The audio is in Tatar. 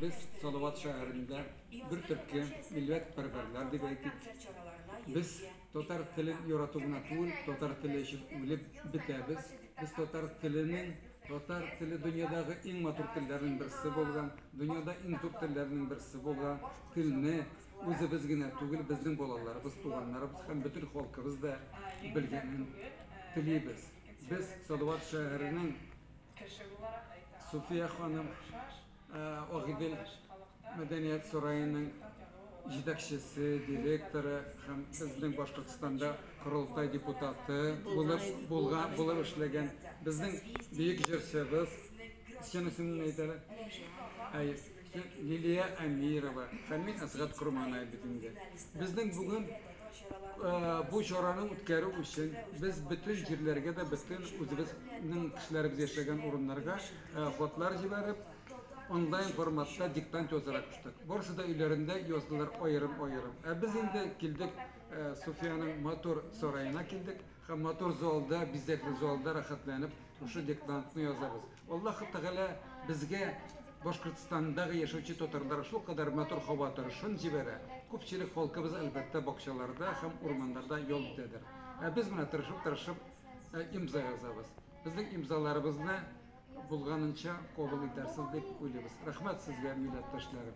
Без Салават шәһәрендә бер төрки милләт пәрвәрләр дип әйтик. Без татар телен ярату гына түгел, татар теле өчен үлеп бетәбез. Без татар теленең, татар теле дөньядагы иң матур телләрнең берсе булган, дөньяда иң зур телләрнең берсе булган телне үзебез генә түгел, безнең балаларыбыз, туганнарыбыз һәм бөтен халкыбыз да белгәнен телибез. Без Салават шәһәренең Кеше буларак әйтә алам. Суфия ханым, Агыйдел мәдәният сараеның җитәкчесе, директоры һәм безнең Башкортстанда Корылтай депутаты булып булган, булып эшләгән безнең бөек җырчыбыз, чын исемен әйтәләр? Рәшит Казан. Тик Лилия Әмирова, Фәнмин Әсгать корманай бит инде. Безнең бүген бу чараны үткәрү өчен без бөтен җирләргә дә, бөтен үзебезнең кешеләребез яшәгән урыннарга хатлар җибәреп, онлайн форматта диктант язырга куштык. Барысы да өйләрендә яздылар аерым-аерым. Ә без инде килдек Суфияның матур сараена килдек һәм матур залда, бизәкле залда рәхәтләнеп шушы диктантны язабыз. Аллаһ Тәгалә безгә Башкортстандагы яшәүче татарларга шулкадәр матур һава торышын җибәрә. Күпчелек халкыбыз, әлбәттә, бакчаларда һәм урманнарда ял итәдер. Ә без менә тырышып-тырышып имза язабыз. Безнең имзаларыбызны булганынча кабул итәрсез дип уйлыйбыз. Рәхмәт сезгә, милләттәшләрем!